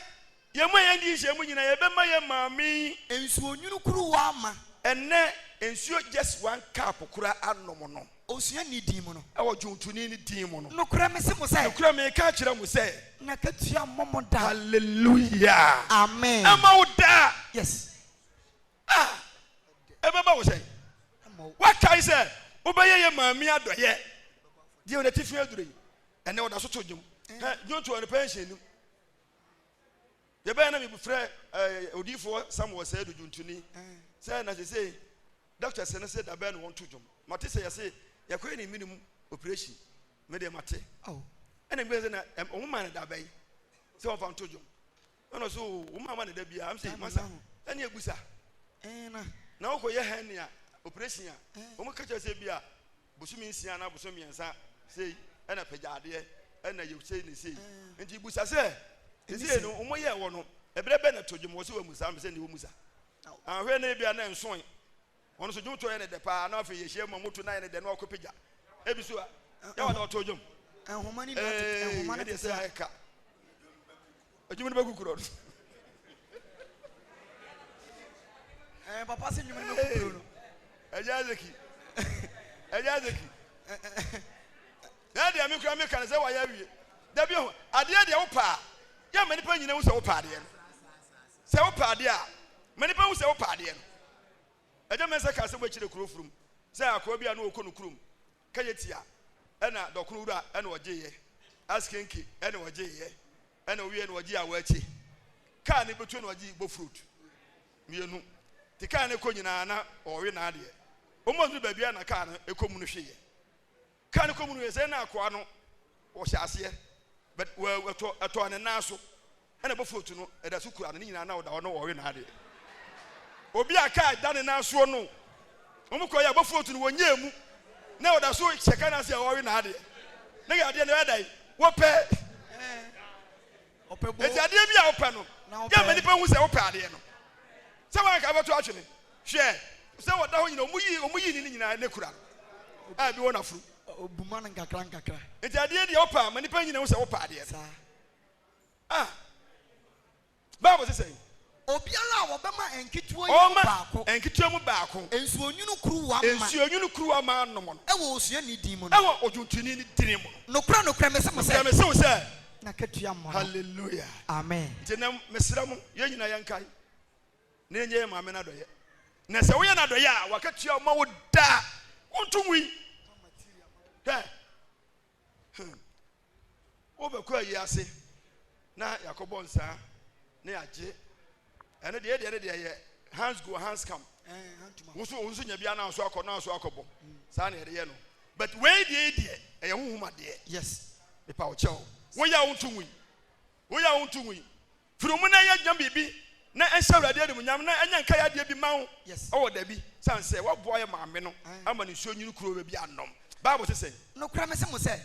yɛn mu a yɛn di nhyiamu nyinaa, yɛbɛma yɛn maame yi. Nsuonwunu kuruwa ma. Ɛnnɛ, nsuo just one cup koraa anom no. Osuani no din mu no. Wɔ dwontoni no din mu no. Nokorɛ mese mo sɛ. Nokorɛ meka akyerɛ mo sɛ. N'akatua mmɔ mo da. Hallelujah! Amen! Ɛmma wo da! Yes! A, ɛbɛba wo sɛn? Woakae sɛ wobɛyɛ yɛ maa me adɔeɛ. Deɛ ɔde atifi aduro yi, ɛnɛ ɔda so to dwom. Hɛ, dwonto ɔno pɛn hyɛ anim. Yɛbɛyɛ na mefrɛ odiyifoɔ Samuel sɛ do dwontoni sɛ na sesei dɔkta sɛ no sɛ da bɛn na wɔnto dwom. Mate sɛ yɛse yɛkɔyɛ ne mene mu operation. Medeɛ mate. Ɛna mgbɛ sɛ na wɔn maa no da bɛn sɛ wɔmfa nto dwom. ɛna ɔsɛ o wɔn ama ne da bi a am sɛ masa ɛne egu sa na ɔkɔ yɛ hɛn nea operation a wɔn kɛkyɛ sɛ bi a bosomi nsia na bosomi mmiɛnsa sei ɛna pɛgya adeɛ ɛna yɛ sei ne sei nti busa sɛ sisi no wɔn yɛ wɔ no ɛbrɛ bɛ na to dwom wɔ so wɔ mu saa mbɛ sɛ ne wɔ mu sa ahwɛ ne bi a na nsoe Wɔn nso dwomtoɔ yɛ no dɛ paa na afei yɛhyia mu a moto no ayɛ no dɛ na wɔkɔ pagya ebi so a yɛ wɔn na wɔto dwom. Eeii ɛdeɛ sɛ ayɛ ka. Adwom no bɛgu korɔ no. Ɛɛ papa sɛ nnwom no bɛgu korɔ no. Ɛyɛ azeki. Ɛyɛ azeki. Ɛɛ deɛ me kura me ka no sɛ wɔayɛ awie. Dabi ho adeɛ deɛ wopaa yɛ ma nipa nyina hu sɛ wopaa adeɛ no. Sɛ wopɛ adeɛ a, ma nnipa hu sɛ wopɛ adeɛ no. Agya Mensah kaa sɛ wɔakyire kuro furum sɛ akoa bi a na ɔkɔ no kurom kɛyɛ tia ɛna dɔkono wura ɛna ɔgyeeɛ, askenke ɛna ɔgyeeɛ ɛna ɔwieɛ na ɔgyee awɔakye, kaa ne bɛtuo na ɔgyee bofrot mmienu nti kaa no kɔ nyinaa na ɔwe naadeɛ. Wɔn aduru baabi a na kaa no kɔ mu no hweeɛ. Car no kɔ mu no yɛ sɛ na akoa no ɔhyɛ aseɛ but wawu ɛtɔ ɛtɔɔ ne nan so ɛna bofoot no ɛda so kura no ne nyinaa na ɔda hɔ na ɔwe n'adeɛ obi a car da ne nan soɔ no wɔn kɔ yɛ bofoot no wɔnyɛɛ mu na ɔda so hyɛ car no ase a ɔwe n'adeɛ ne yɛ adeɛ no ɛda yi wɔpɛ eti adeɛ bi a wɔpɛ no yɛ mɛ nipa hu sɛ wɔpɛ adeɛ no sɛ wɔn anka abɛto atwene. Hwɛ, sɛ wɔda hɔ nyina, wɔyi wɔyi ne ne nyinaa ne kura no a ebi wɔ n'afuru. Obuma no nkakra nkakra. Nti adeɛ deɛ wopɛ a ma nipa nyina hu sɛ wopɛ adeɛ. Saa. Ah, Bible sɛ sɛn? Obiara a wɔbɛma nketewa yi mu baako. Wɔma nketewa mu baako. Nsuonwunu kuruwa ma. Nsuonwunu kuruwa ma nom no. Wɔ osuani din mu no. Wɔ odwontoni no din mu no. Nokorɛ nokorɛ mese mo sɛ. Nokorɛ mese wo sɛ. N'akatua mmɔ no. Hallelujah. Amen. Nti nɛ mesrɛ mo yɛn nyina yɛnkae. na enye Maame no adɔyɛ. Na sɛ woyɛ no adɔyɛ a, wakatua wo ma wo daa. Wonto ngui. Hwɛ. Hmm. Wobɛkɔ ayi ase na yɛakɔbɔ nsaa na yɛagye. Ɛno deɛ deɛ no deɛ yɛ hands go hands come. Woso eh, woso nya bi anaa so akɔ naa so akɔbɔ. Hmm. Saa na yɛde yɛ no. But wei deɛ deɛ ɛyɛ honhom adeɛ. Yes. Mepa wo kyɛw. Woyɛ a wonto ngui. Woyɛ a wonto ngui. Firi wo mu na yɛ dwam biribi na ɛnhyɛ Awurade animuonyam na ɛnyɛ nkaeɛ adeɛ bi mma wo wɔ dabi, sane sɛ woaboa yɛ maame no ama no nsuo nwunu kuruwa bi anom. Bible se sɛn? Nokorɛ mese mo sɛ,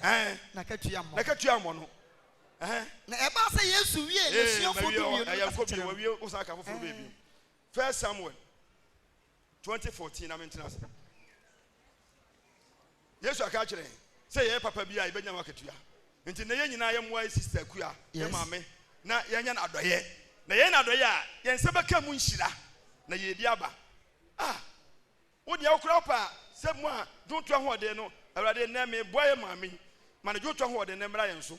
N'akatua mmɔ no. N'akatua mmɔ no. Ɛhɛn. Na ɛbaa sɛ Yesu wiee n'asuafoɔ dumienu no kasa kyerɛ no. Wawie, wosan ka foforɔ bɛɛ bio. First Samuel. twenty fourteen na mentena ase. Yesu aka akyerɛ yɛn sɛ yɛyɛ papa bi a yɛbɛnya ho akatua. Nti na yɛn nyinaa yɛ mmoa yɛ sista kua yɛ maame na yɛanya no adɔyɛ na yɛyɛ no adɔyɛ a yɛn nsa bɛka mu nhyira na yɛyɛ bi aba. Ah, wo deɛ wokora wo paa sɛ mu a dwonto ahoɔden no Awurade nnɛ meboa yɛ maame yi ma ne dwonto ahoɔden no mmra yɛn so.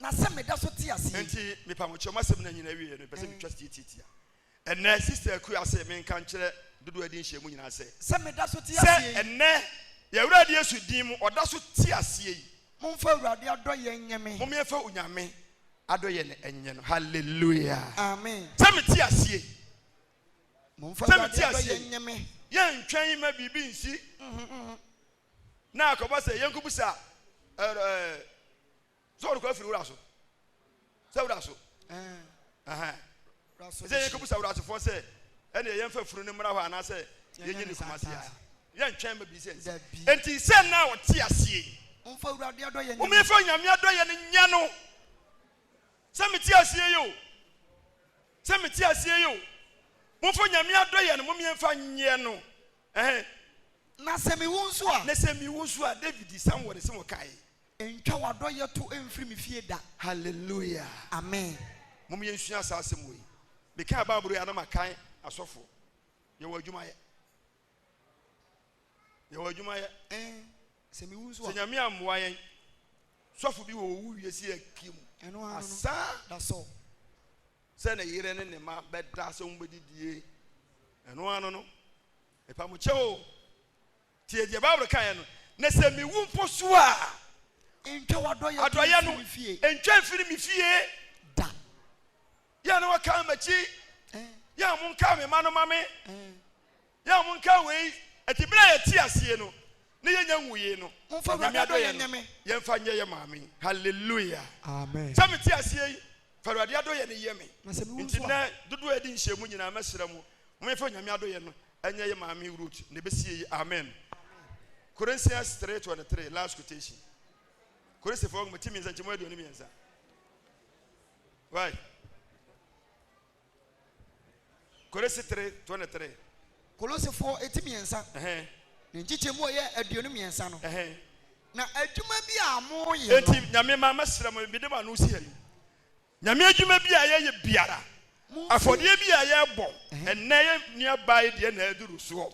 Na sɛ meda so te ase yi. Nti mepa mo kyɛw m'asɛm no nyinaa wieɛ no mepɛ sɛ metwa tiatiatia ɛnnɛ Sister Akua se menka nkyerɛ dodoɔ adi nhyiamu nyinaa sɛ. Sɛ meda so te aseɛ yi. Sɛ ɛnnɛ yɛn Awurade Yesu din mu ɔda so te aseɛ yi. Momfa Awurade adɔyɛ nyɛ me. Momeɛfa Onyame adɔyɛ no nyɛ no Hallelujah. Amen. Sɛ mete aseɛ yi. Momfa Awurade adɔyɛ nyɛ me. Yɛntwɛn ma biribi nsi na akɔba sɛ yɛnkɔbu sa sɛ ɔrekɔ afiri wura so sɛ wura so sɛ yɛkɛbusa wurasefoɔ sɛ ɛneɛ yɛmfa afunu no mmra hɔ anaasɛ yɛnyɛ ne kuma se a yɛntwɛn ma bi sɛ nti sɛ na ɔte aseɛ womɛfa nyame adɔyɛ no nyɛ no sɛ mete aseɛ yi o sɛ mete aseɛ yi o momfa nyame adɔyɛ no momeɛmfa nyɛ no na sɛ mewu nso a na sɛ mewu nso a david sam wɔde se wɔkae Ntwa w'adɔeɛ to mfiri me fie da. Hallelujah. Amen. Mom yɛnsua saa asɛm wei. Mekaa Bible yi a na makan asɔfo. Yɛwɔ adwuma yɛ. Yɛwɔ adwuma yɛ. Eh, sɛ mewu nso a. Sɛ Nyame ammoa yɛn. Sɔfo bi wɔ owu wie si akie mu. Ɛno ano. Asa. Da so. Sɛ ne yere ne ne ma bɛda sɛ wɔn bɛdidie. Ɛno ano no. Ɛpa mo kyɛw. Tie deɛ Bible kaeɛ no, Na sɛ mewu mpo so a, Ntwa w'adɔeɛ no ntwa mfiri me fie da. Yɛ a na wɔkaa m'akyi, yɛ a monkaa me mma no ma me, yɛ a monkaa wei. Ɛnti berɛ a yɛte aseɛ no, na yɛnya nwuiɛ no, Onyame adɔeɛ no yɛmfa nyɛ yɛ maame. Hallelujah! Sɛ mete aseɛ yi, fa Awurade adɔeɛ no yɛ me. Nti nnɛ, dodoɔ a yɛadi nhyiamu nyinaa, mɛsrɛ mo, momfa Onyame adɔeɛ no Ɛnyɛ yɛ maame Ruth na ɛbɛsie yi amen Corinthians three twenty three last quotation Korinsifoɔ nwoma ti mmiɛnsa nkyɛmu aduonu mmiɛnsa wai Korinsi three twenty three Kolosifoɔ eti mmiɛnsa ɛhɛn ne nkyekyɛmu a ɛyɛ aduonu mmiɛnsa no ɛhɛn na adwuma bi a moyɛ no. Enti nyame ma mɛsrɛ mo mede mo ano si ha yi Nyame adwuma bi a yɛyɛ biara, afɔdeɛ bi a yɛbɔ, ɛnnɛ yɛ nua baa yi deɛ na aduru soɔ,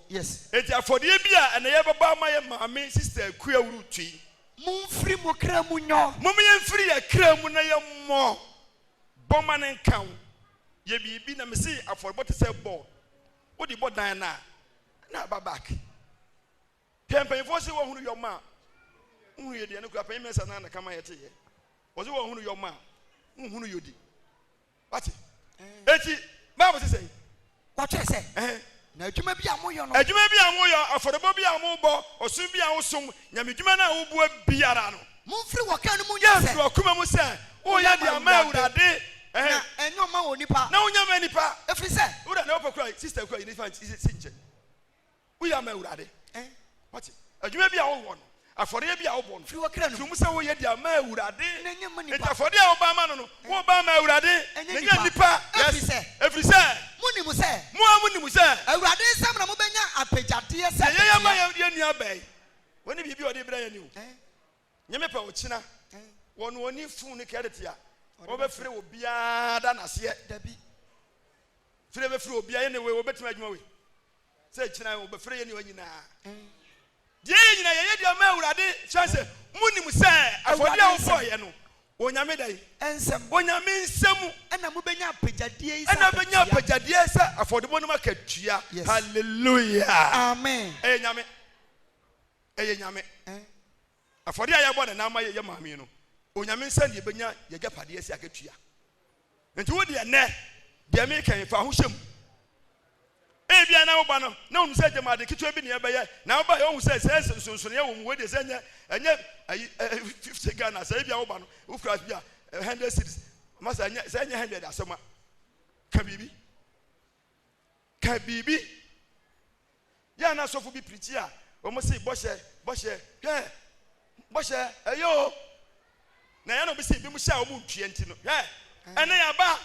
enti afɔdeɛ bi a ɛnɛ yɛbɛbɔ ama yɛ maame Sister Akua Awurutu yi, Momfiri mo kra mu nyɔ. Momma yɛmfiri yɛn kra mu na yɛmmɔ, bɔ ma no nka wo, yɛ biribi, na mese afɔrebɔ te sɛ bɔɔl, wode bɔ dan no a, na aba back. Hwɛ mpanyimfoɔ se wɔhunu yɔma a nhunu yɔdi ɛno kura panyin mɛnsa naa na kama yɛte yɛ wɔse wɔhunu yɔma a nhunu yɔdi wate eti baabu se sɛn wɔkyerɛ sɛ na adwuma bi a moyɔ no adwuma bi a moyɔ afɔrebɔ bi a mobɔ ɔsom bi a wosom nyame dwuma no a wobua biara no momfiri wɔ kan no mu nyɛ sɛ wakoma mu sɛ woyɛ de ama awurade na ɛnyɛ ɔma wɔ nipa na wonya ma nipa ɛfiri sɛ wura na wopɛ kura sister kura yɛ nifa si nkyɛn Woyɛ ama Awurade. Ɛn, wate? Adwuma bi a wowɔ no, afɔreɛ bi a wobɔ no. Firi w'akra mu. Firi mu sɛ woyɛ de ama Awurade. Na nyɛ mma nnipa. Enti afɔdeɛ a wobɔ ama no no, wobɔ ama Awurade. Na nyɛ nnipa. Na nyɛ nnipa. Yes. Ɛfiri sɛ. Ɛfiri sɛ. Monim sɛ. Mo ara monim sɛ. Awurade nsam na mobɛnya apɛgyadeɛ sɛ bɛsea. Deɛ yɛyɛ ma yɛn nua bɛn. Wɔne biribi a ɔde rebrɛ yɛn ni o. Ɛn. nye me pɛ ɔkyena wɔ no ɔni fun ne kɛdɛte a ɔbɛ fere obiara da naseɛ dabi fere bɛ fere obiara yɛne wei ɔbɛtumi adwuma wei sɛ kyena ɔbɛ fere yɛne ɔnyi naa deɛ yɛ nyina yɛyɛ deɛ ɔma awurade kyerɛ sɛ mo nim sɛ afɔdeɛ a wofɔ yɛ no onyame da yi nsɛm onyame nsɛm ɛna mo bɛnya apagyadeɛ yi ɛna bɛnya apagyadeɛ sɛ afɔdebɔ no ma katua yes. hallelujah amen ɛyɛ nyame Ɛyɛ Nyame eh. Afɔdeɛ a yɛbɔ nana ama yɛyɛ maame no, Onyame nsam deɛ yɛbɛnya yɛagyapadeɛ sɛ akatua. Nti wo deɛ nnɛ, deɛ meka yi, fa ahohyɛ mu. Ebia na woba no, na wonim sɛ gyama ade ketewa bi na yɛbɛyɛ, na wobaeɛ wohu sɛ sɛ nsonsonoeɛ wɔ mu, wei deɛ sɛ ɛnyɛ, ɛnyɛ ayi, eh, 50 Ghana, sɛ ebia woba no, wokura bi a, 100 cedis, masa ɛnyɛ, sɛ ɛnyɛ 100 asɛm a, ka biribi. ka biribi yɛ a na asɔfo bi pirikyi a wɔn se bɔhyɛ bɔhyɛ hwɛ bɔhyɛ ɛyɛ o na yɛn na wɔn se ebi mu hyɛ a wɔn ntua nti no hwɛ ɛnna yɛ aba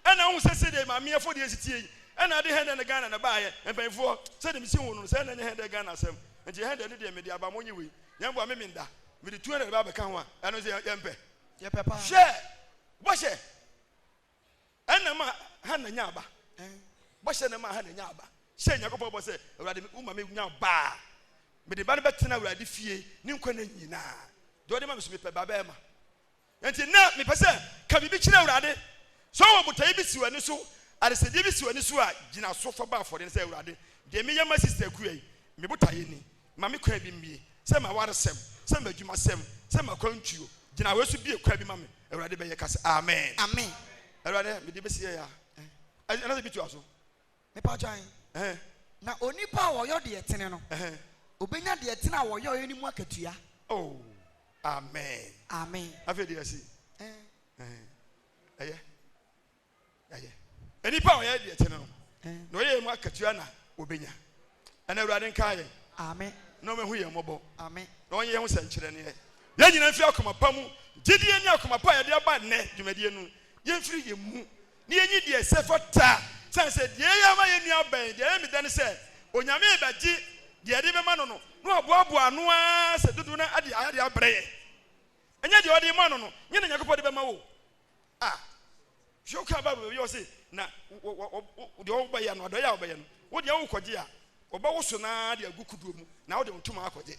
ɛnna ohun sɛ sɛdeɛ maame afɔ deɛ esitie yi ɛnna ade hɛn dɛ ne ghana na baayɛ mpanyinfoɔ sɛdeɛ mesi ho no sɛ ɛnna nyɛ hɛn dɛ ghana asɛm nti hɛn dɛ ne deɛ mede aba mo nye wei yɛn bo a meme nda mede tuo na ɛde ba abɛka ho a ɛno nso yɛmpɛ hwɛ bɔhyɛ ɛna ɛma Hana nyaa ba. Bɔhyɛ na ɛma Hana nyaa ba. Hyɛ Nyankopɔn bɔ sɛ, Awurade, woma me nya ba a, mede ba no bɛtena Awurade fie ne nkwa nna nyinaa. Deɛ ɔde ma me so mepɛ ba bɛɛma. Enti na mepɛ sɛ ka biribi kyerɛ Awurade. Sɛ ɔwɔ botaeɛ bi si w'ani so, adesɛdeɛ bi si w'ani so a, gyina so fa bɔ afɔdeɛ no sɛ, Awurade, deɛ meyɛ ma sista Akua yi, me botaeɛ ni. ma me kwan bi mmue, sɛ m'awaresɛm, sɛ m'adwumasɛm, sɛ m'akwantuo, gyina wei so bue kwan bi ma me, Awurade bɛyɛ ka sɛ, Amen. Amen. Awurade, mede bɛsi yɛ ya. Ɛna sɛ bi tua so. Mepa kyan. Na onipa a ɔyɔ deɛ tene no, obɛnya deɛ tene a wɔyɔeɛ no mu akatua. Oh, amen. Amen. Afei deɛ ɛsi. Ɛyɛ. yɛ. Nnipa a wɔyɛ deɛ ɛtene no, na wɔyɛ yei mu akatua na wɔbɛnya. Ɛnnɛ, Awurade nkae yɛn na ɔmmɛhu yɛn mmɔbɔ, na ɔnyɛ yɛn ho sɛnkyerɛnneɛ. Yɛn nyinaa mfiri akoma pa mu, gyedie ne akoma pa a yɛde aba nnɛ dwumadie no, yɛmfiri yɛn mu na yɛnyi deɛ ɛsɛ fata, sane sɛ deɛ yɛyɛ ama yɛn nua abɛn. Deɛ ɛyɛ me dɛ ne sɛ, Onyame rebɛgye deɛ yɛde rebɛma no no, na waboaboa ano ara sɛ dodoɔ no ara de ayɛ de abrɛ yɛn. Ɛnyɛ deɛ ɔde rema no no, nyɛ na Nyankopɔn de bɛma wo. A, hwɛ wo kan Bible baabi a ɔse, na wɔ, wɔ, wɔ, wo, deɛ wɔbɛyɛ no, adɔeɛ a wɔbɛyɛ no, wo deɛ wokɔgye a, wɔbɛwoso no ara de agu kodoɔ mu, na wode wo ntoma akɔgye.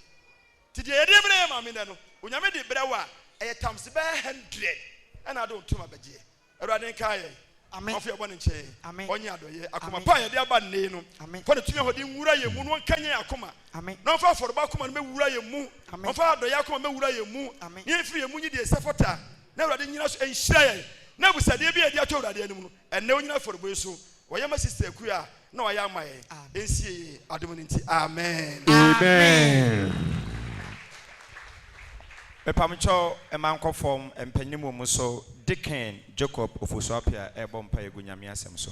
Nti deɛ yɛde brɛ yɛn maame nnɛ no, Onyame de brɛ wo a, ɛyɛ times bɛyɛ hundred ɛna wode wo ntoma bɛgyeɛ. Awurade nkae yɛn, Amen. Ɔmfa yɛn bɔne nkyɛ yɛn, Amen. Ɔnyɛ adɔeɛ. Akoma Amen. pa a yɛde aba nnɛ yi no, Amen. fa Ne tumi ahoɔden nwura yɛn mu na ɔnkanyan yɛn akoma, Amen. na ɔmfa afɔrebɔ akoma no mmɛwura yɛn mu, Amen. ɔmfa adɔeɛ akoma mmɛwura yɛn mu, Amen. na yɛmfiri yɛn mu nyi deɛ ɛsɛ fata. Na Awurade nnyina so nhyira yɛn. Na abusuadeɛ biara a yɛde ato Awurade anim no, ɛnnɛ wɔnnyina afɔrebɔ yi so. Wɔyɛ ma Sister Akua a na wɔayɛ ama yɛn. Ɛnsie yie, adom no nti. Amen. Amen. Mepamkyɛw mma nkɔ fam mpanin mu mmuso, Deacon Jacob Ofosu-Appiah rebɔ mpaeɛ agu Nyame asɛm so.